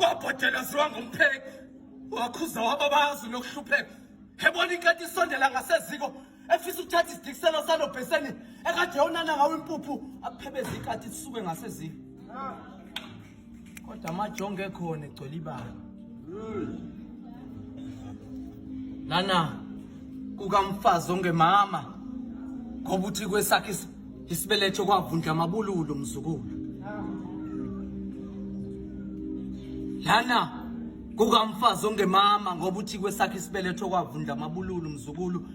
wabhodela ziwa ngompheki wakhuza wababazi nokuhlupheka ebona inkati isondela ngaseziko efisa ukuthatha isidikiselo salo bheseni ekade yonana ngawo impuphu aphebeza ikati isuke ngaseziko kodwa amajongo ekhona egcwele ibala lana kukamfazi ongemama ngoba uthi kwesakhe isibeletho kwavundla amabululu mzukulu lana kukamfazi ongemama ngoba uthi kwesakhe isibeletho kwavundla amabululu mzukulu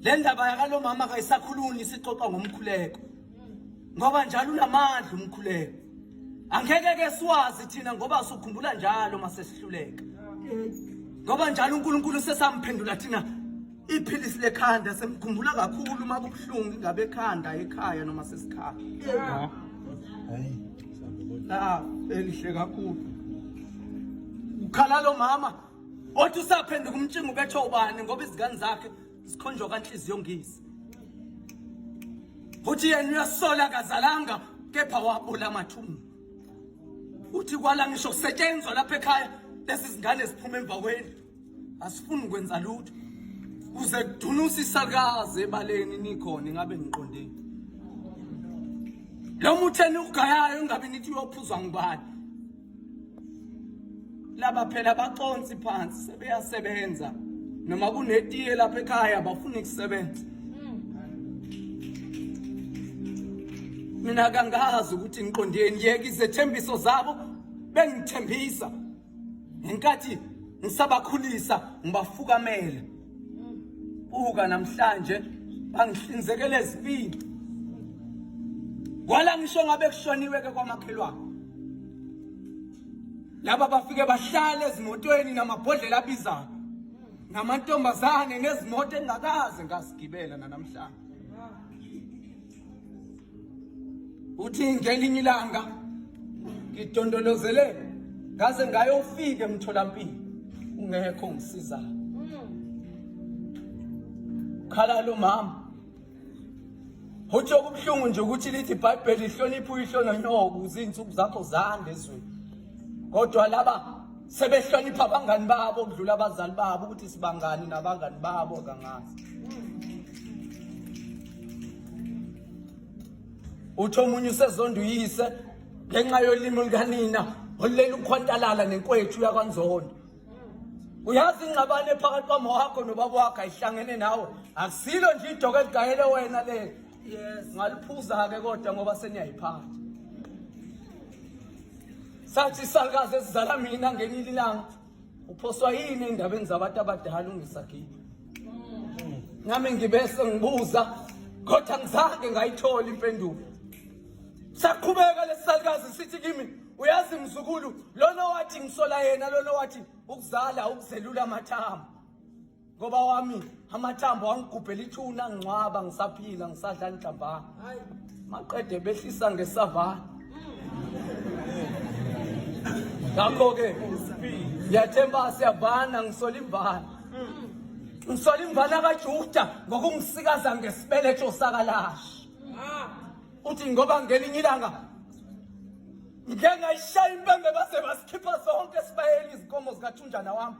le ndaba yakalomama kayisakhuluni isixoxa ngomkhuleko ngoba njalo unamandla umkhuleko angeke ke siwazi thina ngoba sukhumbula njalo masesihluleka ngoba njalo uNkulunkulu sesamphendula thina Iphilisi lekhanda semkhumbula kakhulu uma kubuhlungu ingabe ekhanda ekhaya noma sesikhaya. Hayi. Ah, elihle kakhulu. Ukhala lo mama othi usaphenduka umtshingo bethe ubani ngoba izingane zakhe zikhonjwa kanhliziyo ngisi. Uthi yena uyasola kazalanga kepha wabula amathumbu. Uthi kwala ngisho kusetshenzwa lapha ekhaya lezi zingane ziphuma emva kwendlu. asifuni ukwenza lutho kuze kudunuse isakazi ebaleni nikhona ingabe niqondile lo muthi eniwugayayo ingabe nithi uyophuzwa ngubani laba phela baconsi phansi sebeyasebenza noma kunetiye lapha ekhaya bafuna ukusebenza mina kangazi ukuthi ngiqondeni yeka izethembiso zabo bengithembisa ngenkathi ngisabakhulisa ngibafukamela buka namhlanje bangihlinzekela ezibindi kwala ngisho ngabe kushoniwe-ke kwamakhelwane laba bafike bahlale ezimotweni namabhodlela abizayo namantombazane nezimoto engakaze ngazigibela nanamhlanje uthi ngelinye ilanga ngidondolozele ngaze ngayofika emtholampilo ungekho ngisizayo khala lo mama uthi okubuhlungu nje ukuthi lithi ibhayibheli lihloniphe uyihlononyoko uzinsuku zakho zande ezweni kodwa laba sebehlonipha abangani babo kudlula abazali babo ukuthi sibangani nabangani babo kangazi uthi omunye usezonda uyise ngenxa yolimi lukanina olulele ukhwantalala nenkwethu yakwanzondo uyazi ingxabane phakathi kwamawakho nobaba wakho ayihlangene nawe akusilo nje idoka eligayele wena lelo yes ngaliphuza-ke kodwa ngoba seniyayiphatha sathi isalukazi esizala mina ngenile ilanga uphoswa yini ey'ndabeni zabantu abadala ungisagibe nami ngibese ngibuza kodwa ngizange ngayithola impendulo saqhubeka lesisalukazi sithi kimi uyazi mzukulu lona wathi ngisola yena lona wathi ukuzala ukuzelula amathambo ngoba wami amathambo angigubhela ithuna ngingcwaba ngisaphila ngisadla njamba maqede behlisa ngesava ngakho ke ngiyathemba siyavana ngisola imvana ngisola imvana kajuda ngokungisikaza ngesibeletho sakalashi uthi ngoba ngelinye ilanga ngeke ngayishaya impembe base basikhipha sonke sibayeni izinkomo zikathunjana wami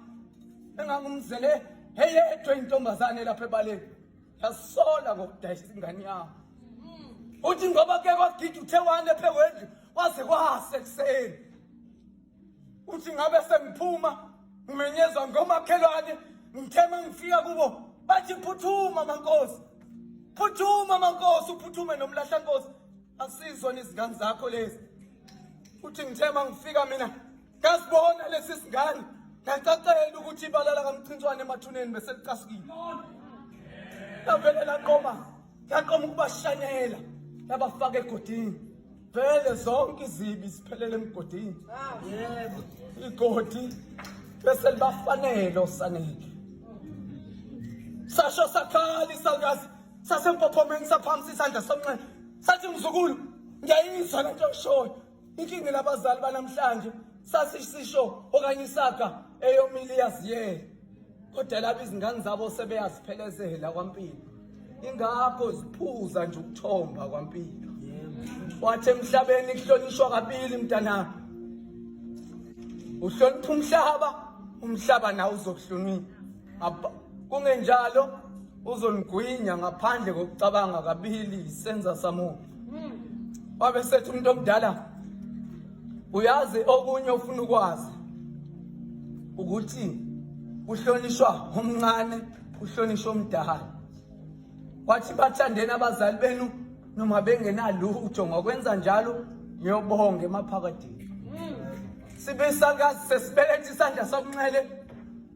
engangumzele eyedwa intombazane lapha ebaleni yasola ngokudayisa ingane yami uthi ngoba ke kwagida uthe wane phe wendlu waze kwase ekuseni uthi ngabe sengiphuma ngimenyezwa ngomakhelwane ngithema ngifika kubo bathi phuthuma mankosi phuthuma mankosi uphuthume nomlahla nkosi asizona izingane zakho lezi uthi ngithema ngifika mina Ngasibona lesi singane ngacacela ukuthi ibala lakamcintswane emathuneni beselicasukile. Lavele laqoma laqoma ukubashanyela labafaka egodini. Vele zonke izibi ziphelele emgodini. Yebo. Igodi bese libafanele osanele. Sasho sakhala isalikazi sasempophomeni saphamisa isandla somnxele. Sathi mzukulu ngiyayizwa lento oshoyo. Inkinga labazali banamhlanje sasisisho okanye isaga eyomile iyaziyela kodwa laba izingane zabo sebeyaziphelezela kwampilo ingakho ziphuza nje ukuthomba kwampilo wathi emhlabeni kuhlonishwa kabili mntanami uhlonipha umhlaba umhlaba nawo uzokuhlonipha kungenjalo uzonigwinya ngaphandle kokucabanga kabili senza samuntu hmm. wabe sethi umuntu omdala uyazi okunye ofuna ukwazi ukuthi uhlonishwa omncane uhlonishwa omdala wathi bathandeni abazali benu noma bengenalutho ngokwenza njalo ngiyobonga emaphakadini hmm. sibisakazi sesibelethisa isandla sokunxele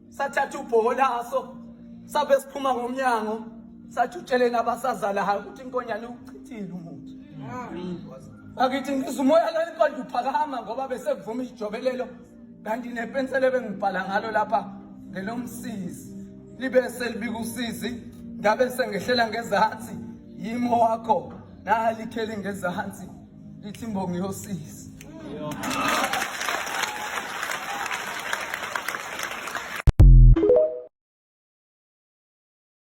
sathatha ubhoho laso sabe siphuma ngomnyango sathi utsheleni abasazalayo ukuthi inkonyane ukuchithile umuthi bakithi ngizwa umoya lona kodwa uphakama ngoba besekuvuma ijobelelo kanti nepensela ebengibhala ngalo lapha ngelomsizi libe selibika usizi ngabe sengehlela ngezansi yimo wakho nalikheli ngezansi Ithi imbongi yosisi.